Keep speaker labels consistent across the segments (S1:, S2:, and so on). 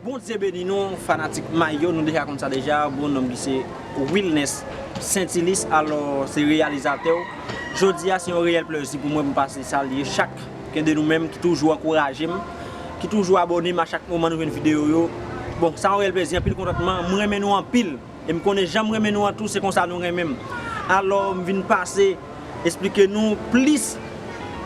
S1: Bondye beni nou fanatik may yo nou deja konn sa deja bon nonm li se wilnes sentilis alò se reyalizatèw jodia se yon reyèl plèzi pou mwen pou m pase salye chak ken de nou menm ki toujou ankouraje m ki toujou abòne m a chak moman nou jwenn videyo yo bon sa yon reyèl plèzi anpil kontantman m renmen nou anpil. E m konnen jan m renmen nou an tou se konsa nou renmen m. Alò m vin pase esplike nou plis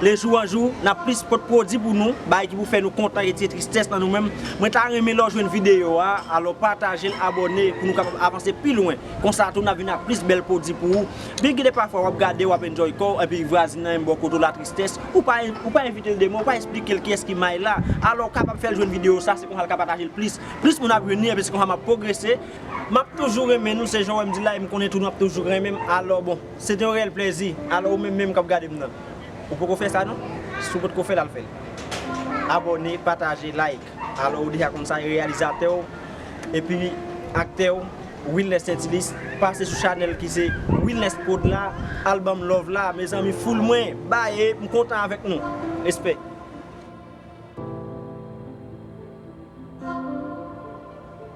S1: le jou an jou n ap plis pot pwodi pou nou bagay ki pou fè nou kontan retire tristès nan nou menm. Mwen ta renmen lè w jwenn videyo a alò pataje l abòne pou nou kapab avanse pi lwen konsa tou n ap vin ak plis bèl pwodi pou ou byen ki de pafwa w ap gade w ap enjoy kò w epi vwazin nan menm bò kote w la tristès ou pa ou pa envite l de mo ou pa esplike l kiyès ki may la alò w kapab fè l jwenn videyo sa se konsa l ka pataje l plis plis moun ap vini epi se konsa m ap pwogrese. Map toujou renmen nou se jan wèm di la em konnen tou nou ap toujou renmenm alò bon se te yon reyèl plèzi alò ou menm menm kap gadem nan ou poko fè sa non si ou potko fèl al fèl abòne pataje like alò ou deja konn sa e reyalizatè ou epi aktè ou Wilnes Saintilus pase sou chanèl ki se Wilnes prod la al banm love la mezanmi foul mwen baye m kontan avèk nou respect.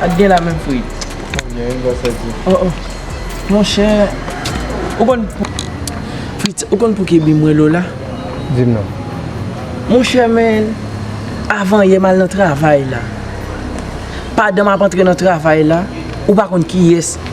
S2: Pat gen la menm frit. Mwen gen yon gòsè di. O o. Mon chè. Ou konn pou. Frit, ou konn pou ki bi mwen Lola? Di m non. Mon chè men, avan yè m al nan travay la. Padan m ap antre nan travay la, ou pa konn ki yès.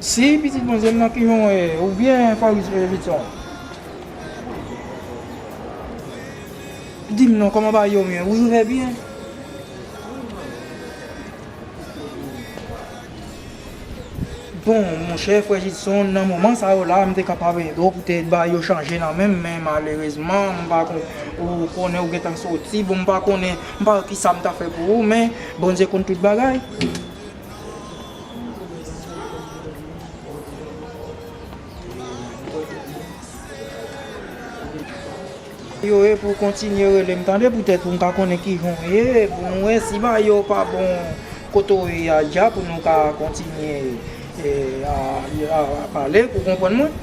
S3: Si pitit bondye m nan ki jan w ye ou byen fòris louis vuitton dim non kòman w pa ye w menm wi ou fè byen. Bon monchè frè Jidson nan moman sa yo la m te kapab ede w pou te bay yo chanje nan men m men malerezman m pa konn ou konnen ou gentan soti bon m pa konnen m pa wè kisa m ta fè pou ou men Bondye konn tout bagay. Yo ye pou kontinye relem tande poutèt pou m ka konnen kijan w ye pou nou wè si bagay yo pa bon kote w ye a dja pou nou ka kontinye pale pou konprann mwen.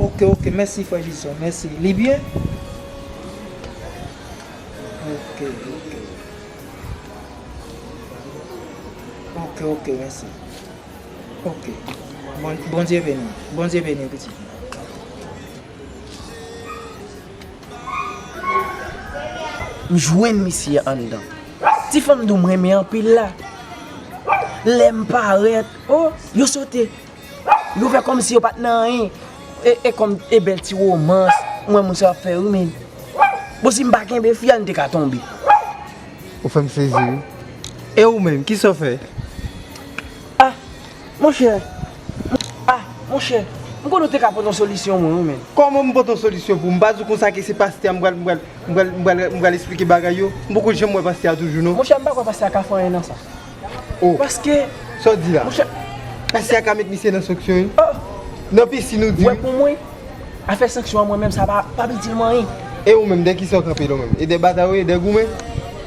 S3: Ok ok mèsi frè jison mèsi li byen ok ok ok ok mèsi ok bondye beni bondye beni pitit mwen.
S2: M jwenn misye anndan. Ti fanm dou m renmen anpil la. Lem paret oh yo sote. Yo fè kòm si yo pat nan anyen. E kòm e bèl ti romans mwen wè moun sa yo ap fè wi men. Bon si m pa kenbe fi a nou te ka tonbe. Ou
S3: fè m sezi wi. E
S2: ou
S3: menm kisa w fè? Ah monchè,
S2: ah monchè, m konnen w te ka pot yon solisyon mwen wi men. Kòman m pot
S4: yon solisyon pou w? M pa di w konsa ke se pastè a m pral, m pral, m pral, m pral esplike bagay yo? M poko janm wè pastè a toujou non. Monchè m pa kwè pastè a ka
S2: fè anyen nan sa. Oh paske Sa w di la? Monchè
S4: Pastè
S2: a ka met
S4: misye nan sanksyon wi. Oh Nan
S2: piscine ou
S4: di wi. Wè pou mwen
S2: Afè sanksyon an mwen menm sa pa pap itil mwen anyen. E ou menm dè kisa
S4: w kanpe la ou menm? E dè batay ou ye? Dè goumen?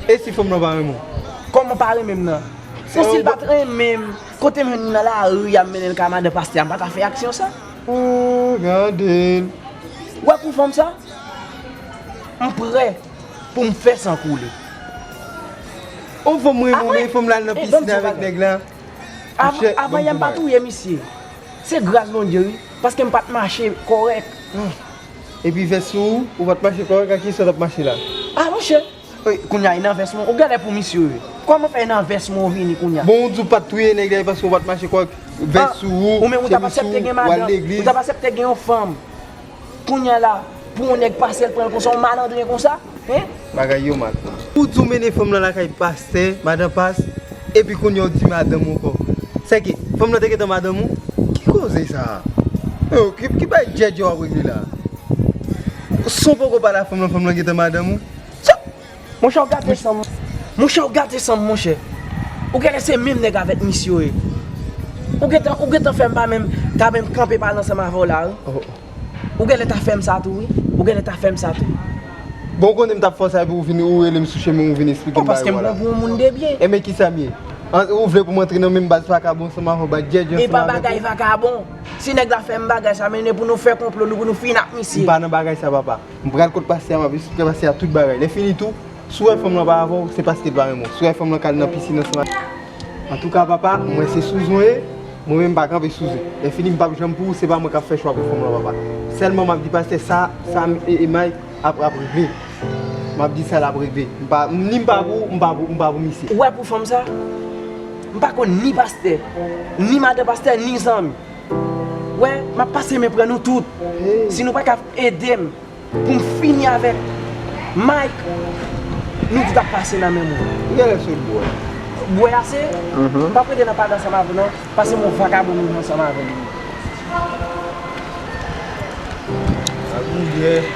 S4: E si fanm lan pa renmen w? Kòman pa renmen m
S2: nan? Bon si l pat renmen m kote m jwenn li nan lari a m mennen l kay madan pastè a m pa ta fè aksyon sa? Ooh
S4: gade l. Wè
S2: pou fanm sa? M prè. pou m fè san koule.
S4: Ou fè m ri mwen menm pou m la nan piscine avèk nèg la.
S2: Avan yè m pa touye misye. Se gras Bondye wi, paske m pat mache kòrèk.
S4: Epi vès ou, ou pat mache kòrèk ak kiyès ou tap mache la? A monchè!
S2: Kounya e nan vès mwen ou galè pou misye wi. Kòman fè e nan vès mwen ou vini kounya? Bon ou di ou pat touye nèg
S4: la e paske ou pat mache kòrèk, vès sou ou, chemiz sou ou,
S2: ou al legliz. Ou tap
S4: asepte gen
S2: yon
S4: fanm.
S2: Kounya la pou yon nèg pase l pranl konsa yon malandren konsa hein. Bagay yo mal.
S4: Ou di w mennen fanm lan lakay pastè, madan pas, epi kounya w di madanm ou ankò. Sèke fanm lan te gentan madanm ou? Ki koze sa a? Eyo ki bay djèdjè wap regle la a? Son poko pale a fanm lan fanm lan gentan madanm ou?
S2: Monchè ou gate san Monchè ou gate san monchè Ou genlè se menm nèg avèk mis yo ye Ou gentan ou gentan fèm pa menm ta menm kanpe pale ansanm avèw la wi Ou genlè ta fèm sa tou wi Ou genlè ta fèm sa tou Bon ou konnen
S4: m tap fè yon sa epi ou vini ou relem sou chemen ou vini esplike m bagay yo la Oh paskem pran pou yon moun de
S2: byen
S4: Enben
S2: kisa m ye
S4: Ou vle pou m antre nan menm baz vakabon ansanm avèw baz djèdjè ansanm avèw Epa bagay vakabon
S2: Si nèg la fèm bagay sa men e pou nou fè konplo nou pou nou fin ak misye M pa nan bagay sa papa.
S4: M pral kot pastè a m ap esplike pastè a tout bagay. Lèfini tou, si w wè fanm lan pa avè w, se paske l pa renmen w. Si w wè fanm lan k al nan pisin ansanm ak ou. Antouka papa, mwen se souzou e, mwen menm m pa kanpe souzou. Lèfini m p ap janm pou ou, se pa mwen k ap fè chwa pou fanm lan papa. Sèlman m ap di pastè sa, sa m e Emay ap ap regle. M ap di sa l ap regle. M pa, ni m pa pou ou, m pa pou, m pa pou misye. Ou wè pou fanm sa,
S2: m pa konn ni pastè, ni madan pastè, ni zanmi. Wè map pase men pran nou tout si nou paka edem poum fini avèk Mike nou tout ap pase nan men mwen. Ou gen lè sot bwè.
S4: Bwè ase,
S2: m pap rete nan pale ansanm avèw non, pase m yon vakabon m vin ansanm avèw wi. Sa gou byen.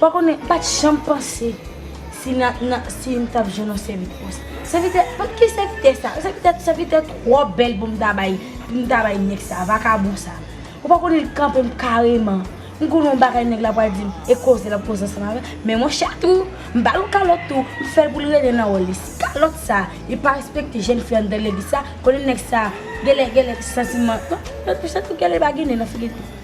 S5: Pa konnen, pa t janm panse si na, na, si m t ap jwenn yon sèvitris. Sèvitè, pa ki sèvitè sa? Sèvitè, sèvitè twò bèl pou m ta bay, pou m ta bay nèg sa, vakabon sa. Ou pa konnen li kanpe m kareman. M konnen yon bagay nèg la pral di m, e koze l ap koze ansanm avè m. Men mwen chè tou, m ba l yon kalòt tou, m fè l pou l rete nan wòl li. Si kalòt sa, li pa respekte jèn fi anndan legliz sa, konnen nèg sa, genlè, genlè santiman, non, non, m chè tou genlè li pa gen nen nan figi l tou.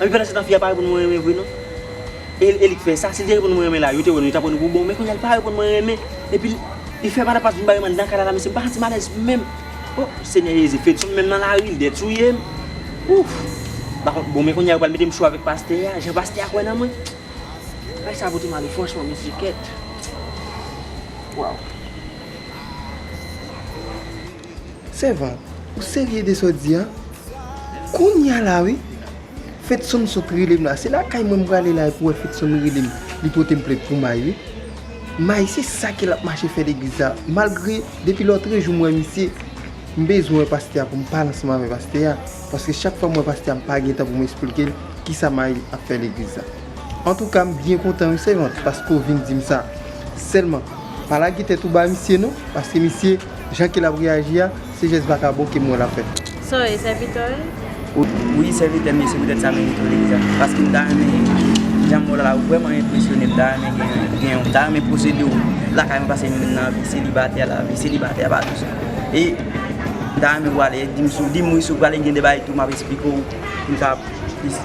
S1: Epi pandan se tan fi a pa reponn mwen renmen vre non. E li k fè sa, si li te reponn mwen renmen la, yo te wè nou, yo tap pran nou pou bon, men kounya li pa reponn mwen renmen. Epi li fè madam Paz vin bare m anndan kay la la mesye, m pa santi m alèz menm. O senyè Jezi, Fedson menm nan lari li dè touye m. Ouff! M pa konn, bon men kounya yo pral mete m cho avèk pastè a, jan pastè a kwè nan mwen. Bagay sa pote m ale franchman mesye kèt. Waww.
S4: Sèvant, ou serye de sa w di a? Kounya la wi. Fedson sot rele m la. Se lakay mwen m prale la epi w wè Fedson rele m. Li pote m plent pou May wi. May se sa ke l ap mache fè legliz la. Malgre depi lòtrejou m wè misye, m bezwen wè pastè a pou m pale ansanm avè pastè a. Paske chak fwa m wè pastè a m pa gen tan pou m esplike l kisa May ap fè legliz la. Antouka m byen kontan wi sèvant paske w vin dim sa. Sèlman pa lage tèt ou ba misye non paske misye jan ke lap reyaji a se jès vakabon kem wè lap fè. Sa w ye
S6: sèvitè w ye?
S2: Wi sèvitè m ye se poutèt sa mwen rete w legliz la paske m ta renmen jan mwen w la ou vrèman enpresyone m ta renmen gen yon m ta renmen posede w lakay mwen paske m vin nan vi selibatè la vi selibatè pa dous e m ta renmen w ale di m dim wi si w prale gen de bagay tou map esplike w pou m ka plis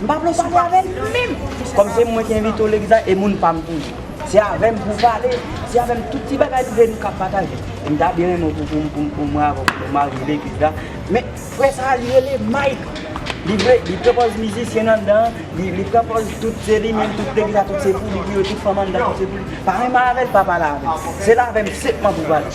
S2: M pa vle w pale avè l menm! Kòm se mwen ki envite w legliz la, e moun pa m toujou. Se avè m pou w pale, se avè m tout ti bagay prive nou kab pataje. E m ta byen renmen w pou mwen avè w pou nou marye legliz la. Men, frè sa a li rele Mike! Li vle, li pran pòz mizisyen anndan an, li pran pòz tout se li menm, tout legliz la tout se pou li, pou yo tout fanm anndan tout se pou li. Pa renmen avè l, pa pale avè l. Se l avè m senpman pou w pale.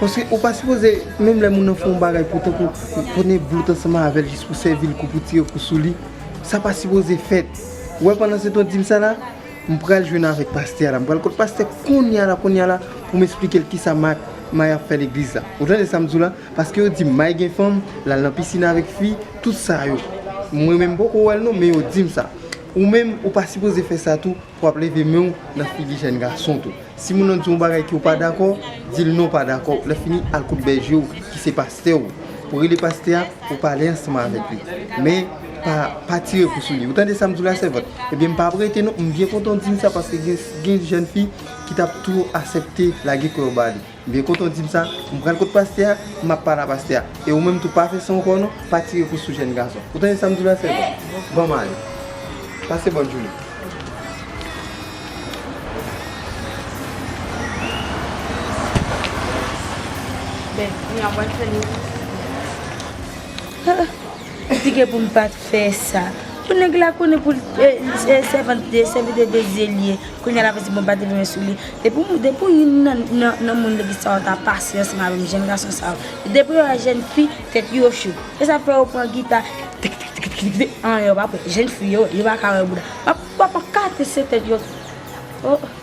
S4: Paske ou pa sipoze, menm lè moun nan fè yon bagay pou tankou pou ne vlout ansanm avèl jis pou sèvil kou pou tire kou sou li, sa pa sipoze fèt. Ou wè pandan setan w di m sa la, m pral jwenn avèk pastè a la, m pral kot pastè konnya la konnya la pou m esplike l kisa ma May ap fè legliz la. Ou tande sa m di w la? Paske yo di m May gen fanm, l al nan pisin avèk fi, tout sa yo. Mwen menm m poko wè l non, men yo di m sa. Ou menm, ou pa sipoze fè sa tou. Wap leve men w nan figi jèn gason tou. Si moun lan di yon bagay ke w pa dakò, di l non w pa dakò. Lèfini al kot bèje w ki se pastè w. Ou rele pastè a, ou pale ansanm avèk li. Men, pa tire kou sou li. Ou tande sa m di w la sèvant? Ebyen m pa ap rete non. M byen kontan w di m sa paske gen jèn fi ki tap tou asèpte lage kò yo ba li. M byen kontan w di m sa, m pral kot pastè a, m ap pale a pastè a. E ou menm tou pa fè san w kò non, pa tire kous sou jèn gason. Ou tande sa m di w la sèvo? Ban m ale. Pase bòn jounen. Ben, kounya
S5: m wè l fè leve. Kritike pou m pat fè sa. Bon nèg la konnen pou se sèvant li ye, sèvitè de Dye li ye, kounya lap di bon pa te vini sou li. Depi w depi w youn nan nan moun legliz sa yo ta pasyan ansanm avè m jèn gason sa yo. Depi yo wè jèn fi tèt yo cho. Se sa k fè yo pran gita tikitikitiki an yo pa p wè jèn fi yo, yo pa ka wè bouda. Wap wap kase tèt yo oh.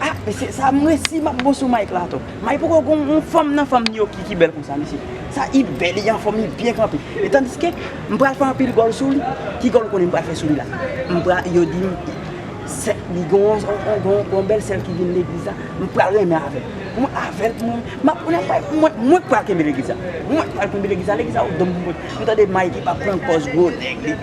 S7: Ah mesye sa
S2: m resi map bon sou Mike la ato Mike poko gon yon fanm nan fanm Nioki ki bèl konsa mesye sa i bèl li anfòm li byen kanpe e tandiske m pral fè anpil gòl sou li ki gòl ou konnen m pral fè sou li la m pra yo di m sè li gon yon bèl sè l ki vin legliz la m pral renmen avèl pou mwen avèl pou mwen map mwen pral mwen k pral kenbe legliz la mwen k pral kenbe legliz la legliz la ou donm pou mwen m tande Mike ap pran pòz gwo nèg li.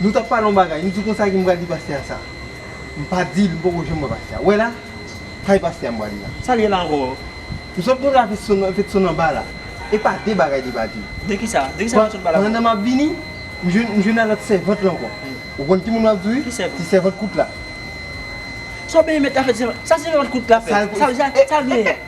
S4: Nou t ap pale yon bagay, m di konsa ki m pral di pastè a sa? M pa di l, m poko janm wè pastè a. Wè la, kay pastè a m prale la. Sa l ye la ankò?
S1: M sot kontre
S4: a Fedson anba la. E pa de bagay li pa di. De ki sa? De ki sa Fedson
S1: pale avè w? Pandan m ap vini,
S4: m jwenn a lòt sèvant la ankò. Ou konn ki moun m ap di wi? Ki sèvant? Ti sèvant kout la.
S1: Sa w benyen mèt la fè ti sèvant? Sa sèvant kout la fè? Sa l genyen?